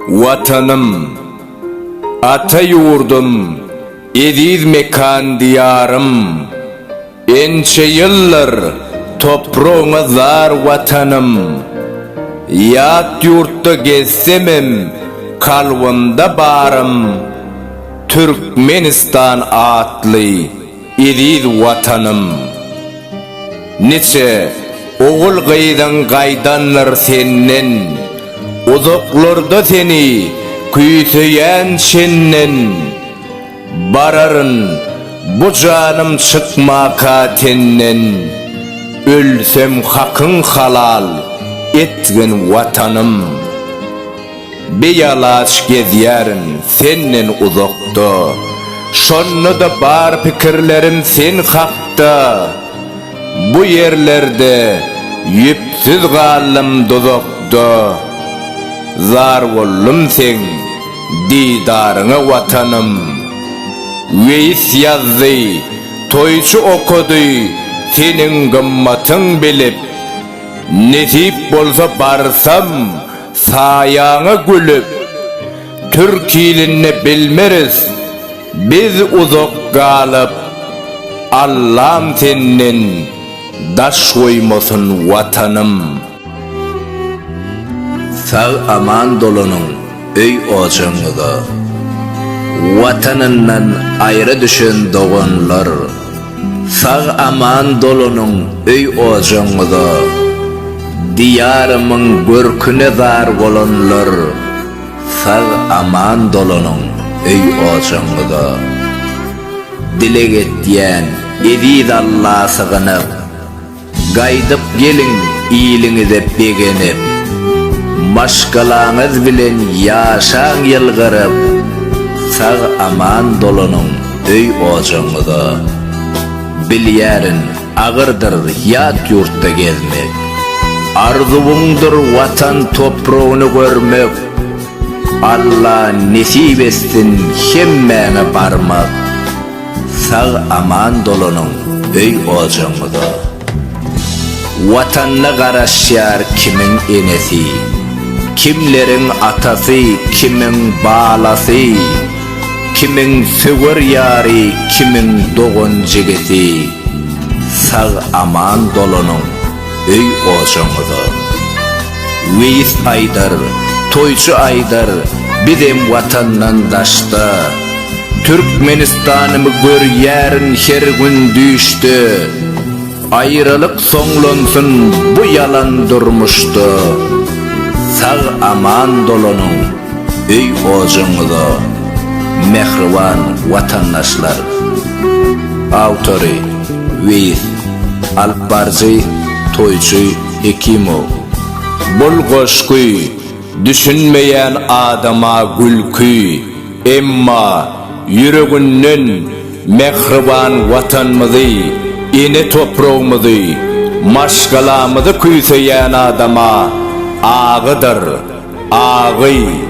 Watanym, ata ýurdum, eziz mekan Diýarym! Ençe ýyldyr topragyňa zar Watanym! Ýat ýurtda gezsemem kalbymda barym Türkmenistan atly Eziz Watanym! Niçe ogul-gyzyň gaýdandyr senden, Uzaklarda seni küýseýän çenden. Bararyn bu janym çykmaka tenden, Ölsem hakyň halal etgin Watanym! Bialaç gezýärin senden uzakda, Şonda-da bar pikirlerim sen hakda. Bu ýerlerde ýüpsüz galdym duzakda, Zar boldum seň didaryňa Watanym. Weýis ýazdy, toýçy okady, Seniň gymmatyň bilip, Nesip bolsa barsam, Saýaňa gülüp, türkilini bilmeris biz uzak galyp, Allam senden daş goýmasyn Watanym. Sag aman dolanyň öý ojagyňyza. Watanyndan aýra düşen doganlar. Sag aman dolanyň öý ojagyňyza, Diýarymyň görküne zar bolanlar, Sag aman dolanyň öý ojagyňyza. Dileg etýän eziz Alla sygynyp. Gaýdyp geliň iliňize begenip, Maşgalaňyz bilen ýaşaň ýylgyryp, Sag-aman dolanyň öý-ojagyňyza. Bilýärin, agyrdyr ýat ýurtda gezmek, Arzuwyňdyr Watan topragyny görmek, Alla nesip etsin hemmäňe barmak. Sag aman dolanyň öý ojagyňyza. Watanyna garaşýar kimiň enesi, kimleriň atasy, kimiň balasy, kimiň söwer ýary, kimiň dogan-jigisi. Sag aman dolanyň. öý ojaňyza. Weýis Haýdar, toýçy Aýdar, bizem watandan daşda. Türkmenistanymy görýärin her gün düýşde. Aýralyk soňlansyn bu ýalan durmuşda. Sag-aman dolanyň öý ojaňyza, mähriban watandaşlar. Awtory, Weýis. Alypbaryjy, toýçy Hekimow. Bul goşgy düşünmeýän adama gülki, emma ýüreginden mähriban Watanymyzy, ene topragymyzy, maşgalamyzy küýseýän adama agydyr, agy.